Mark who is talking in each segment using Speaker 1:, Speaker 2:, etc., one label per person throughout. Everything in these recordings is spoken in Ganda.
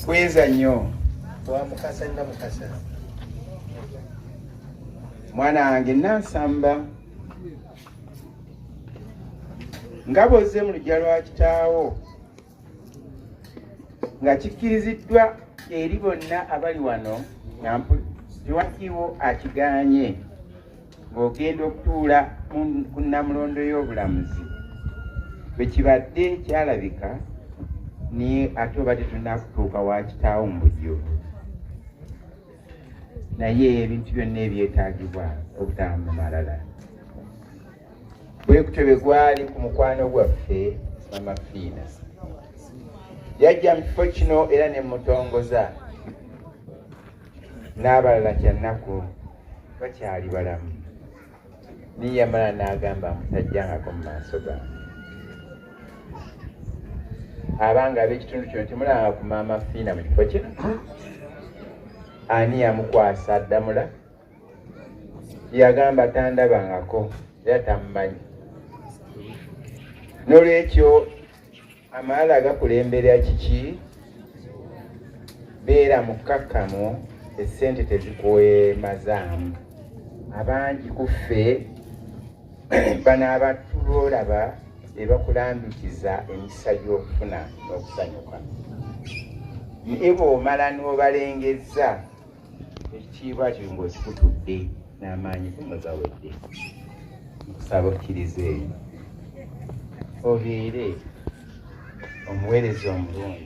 Speaker 1: Bweza nnyo wa mukasa
Speaker 2: na mukasa
Speaker 1: mwana wange nansamba nga bwozze mu lujja lwa kitaawo nga kikkiriziddwa eri bonna abali wano nga mpuliwakiwo akiganye ng'ogenda okutuula ku nnamulondo y'obulamuzi bwe kibadde kyalabika naye ate obadde tunakutuuka wa kitaawo mu bujjo naye ebintu byonna ebyetaagibwa obutaba mu malala bwekutyo bwe gwali ku mukwano gwaffe mama fiina yajja mu kifo kino era ne mutongoza n'abalala kyannaku bakyali balamu naye yamala n'agamba mutajjangako mu maaso gange abanga ab'ekitundu kino temulanga ku maama fiina mu kifo kino ani yamukwasa addamula yagamba tandabangako era tamumanyi n'olwekyo Amaala gakulembera kiki? Beera mukkakkamu, essente tezikwemazaamu. Abangi ku ffe bano abatulolaba be bakulambikiza emikisa gy'okufuna n'okusanyuka. Naye bw'omala n'obalengezza ekitiibwa kiri mbu kikutudde n'amaanyi kuno gawedde nkusaba okkiriza eyo obeere omuweereza omulungi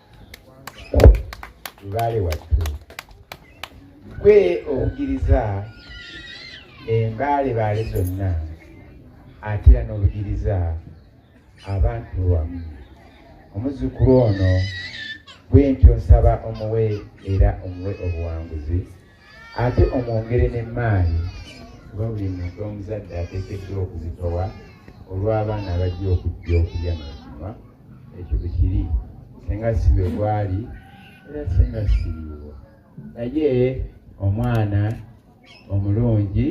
Speaker 1: lubaale wattu gwe obugiriza embaalebaale zonna ate era n'obugiriza abantu wamu omuzzukulu ono bwentyo nsaba omuwe era omuwe obuwanguzi ate omwongere n'emmaali kuba buli muntu omuzadde ateekeddwa okuzitowa olw'abaana abajja okujja okulya nokinywa ekyo bwe kiri senga si bwe gwali era senga siriwo naye omwana omulungi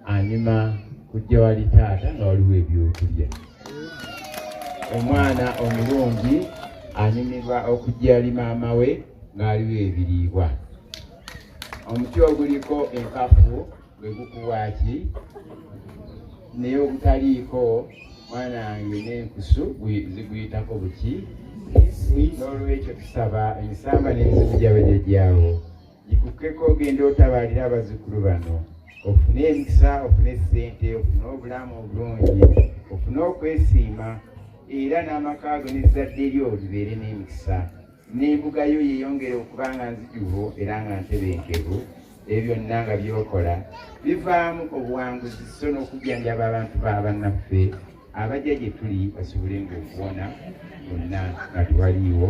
Speaker 1: anyuma kujja wali taata nga waliwo ebyokulya omwana omulungi anyumirwa okujja ali maama we ng'aliwo ebiriibwa omuti oguliko enkafu gwe gukuwaaki naye ogutaliiko mwana wange n'enkusu ziguyitako buki n'olwekyo tusaba ensamba n'ensibu gyabajajjaawo yikukeko ogenda otabalira abazukulu bano ofune emikisa ofune sente ofune obulamu obulungi ofune okwesiima era n'amakaago n'ezzadde lyo libeere n'emikisa n'embuga yo yeyongere okuba nga nzijuvu era nga ntebenkevu ebyo byonna nga byokola bivaamu obuwanguzi so n'okujjanjaba abantu ba bannaffe abajja gye tuli basobole ngaokuwona bonna nga tewaliiwo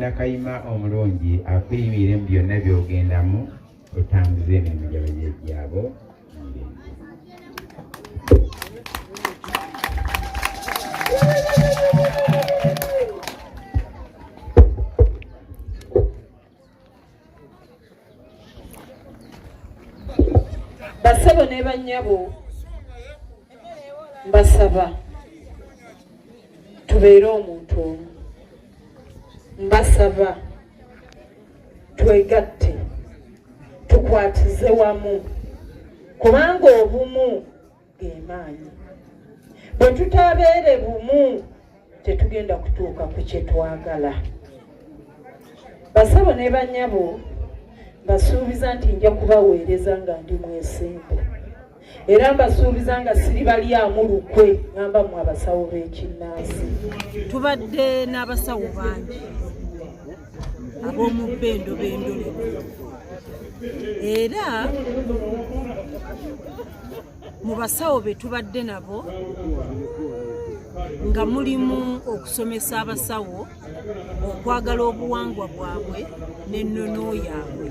Speaker 1: Nakayima omulungi akuyimirire mu byonna by'ogendamu otambuze emirimu gya bajajjaabo
Speaker 3: basebo ne bannyabo mbasaba tubeere omuntu omu mbasaba twegatte tukwatize wamu kubanga obumu gemaanyi bwe tutabeere bumu tetugenda kutuuka ku kyetwagala basabo ne banyabo basuubiza nti nja kubaweereza nga ndi mwesimbu era mbasuubiza nga siribalyamu lukwe ngamba mu abasawo b'ekinnansi tubadde
Speaker 4: n'abasawo bangi ab'omubba endobo endole era mu basawo be tubadde nabo nga mulimu okusomesa abasawo okwagala obuwangwa bwabwe n'ennono yaabwe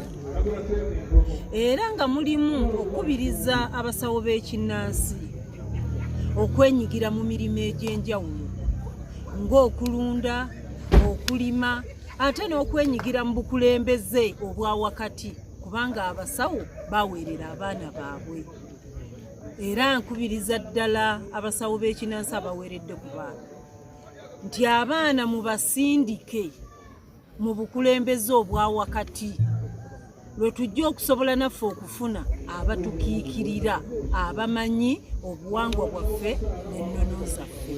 Speaker 4: era nga mulimu okukubiriza abasawo b'ekinnansi okwenyigira mu mirimu egy'enjawulo ng'okulunda okulima ate n'okwenyigira mu bukulembeze obwa wakati kubanga abasawo baweerera abaana baabwe era nkubiriza ddala abasawo b'ekinansi abaweeredde ku baana nti abaana mubasindike mu bukulembeze obwa wakati lwe tujja okusobola naffe okufuna abatukiikirira abamanyi obuwangwa bwaffe n'ennono zaffe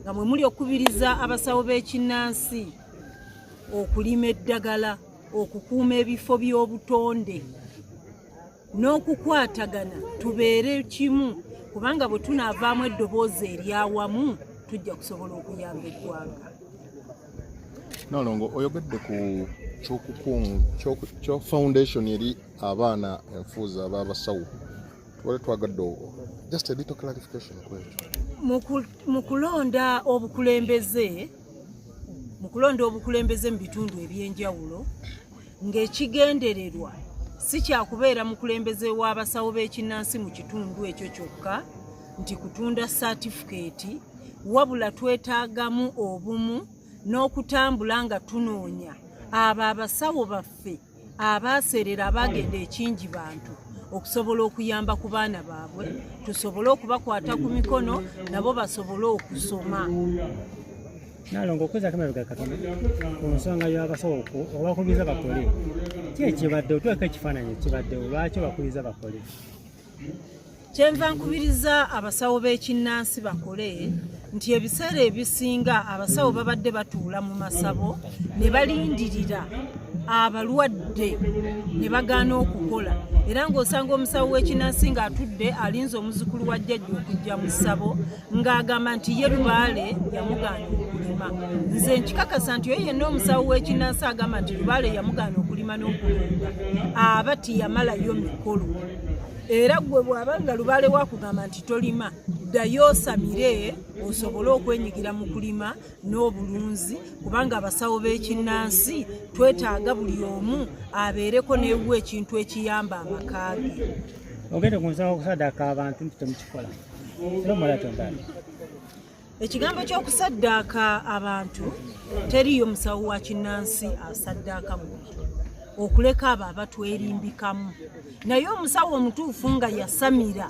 Speaker 4: nga mwe muli okukubiriza abasawo b'ekinnansi okulima eddagala okukuuma ebifo by'obutonde n'okukwatagana tubeere kimu kubanga bwe tunaavaamu eddoboozi eryawamu tujja kusobola okuyamba eggwanga
Speaker 5: nalongo oyogedde ku kyokukunga foundation eri abaana enfuuza aba abasawo tubale twagadde obwo just a little clarification kwekyo mu
Speaker 4: kulonda obukulembeze mu kulonda obukulembeze mu bitundu ebyenjawulo ng'ekigendererwa si kyakubeera mukulembeze w'abasawo b'ekinnansi mu kitundu ekyo kyokka nti kutunda satifikeeti wabula twetaagamu obumu n'okutambula nga tunoonya abo abasawo baffe abaaseerera abaagenda ekingi bantu okusobola okuyamba ku baana baabwe tusobole okubakwata ku mikono nabo basobole okusoma
Speaker 6: Nalongo okweza kama bega katona ku nsonga y'abasawo obakubiriza bakole ki ekibadde otweka ekifaananyi ekibadde olwaki obakubiriza bakole
Speaker 4: kyenva nkubiriza abasawo b'ekinnansi bakole nti ebiseera ebisinga abasawo babadde batuula mu masabo ne balindirira abalwadde ne bagaana okukola era ng'osanga omusawo w'ekinnansi ng'atudde alinze omuzukulu wa jjajja okujja mu ssabo ng'agamba nti ye lubaale yamugaana okulima nze nkikakasa nti oyo yenna omusawo w'ekinansi agamba nti lubaale yamugaana okulima n'okulunda aba tiyamalayo mikolo era gwe bw'aba nga lubaale wakugamba nti tolima ddayo osamire osobole okwenyigira mu kulima n'obulunzi kubanga abasawo b'ekinnansi twetaaga buli omu abeereko n'ewu ekintu ekiyamba amakaage ogende ku nsawo
Speaker 6: okusadaka abantu nti temukikola
Speaker 4: ekigambo ky'okusaddaaka abantu teriiyo musawo wa kinnansi asaddaaka mubiri okuleka abo abatwerimbikamu naye omusawo omutuufu nga yasamira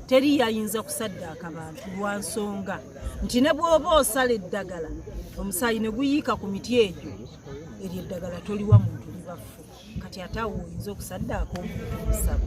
Speaker 4: teri yayinza kusaddaaka bantu lwa nsonga nti ne bw'oba osala eddagala omusaayi ne guyiika ku miti egyo eryo eddagala toliwa muntu libaffu kati ate awo oyinza okusaddaaka omuntu omusawo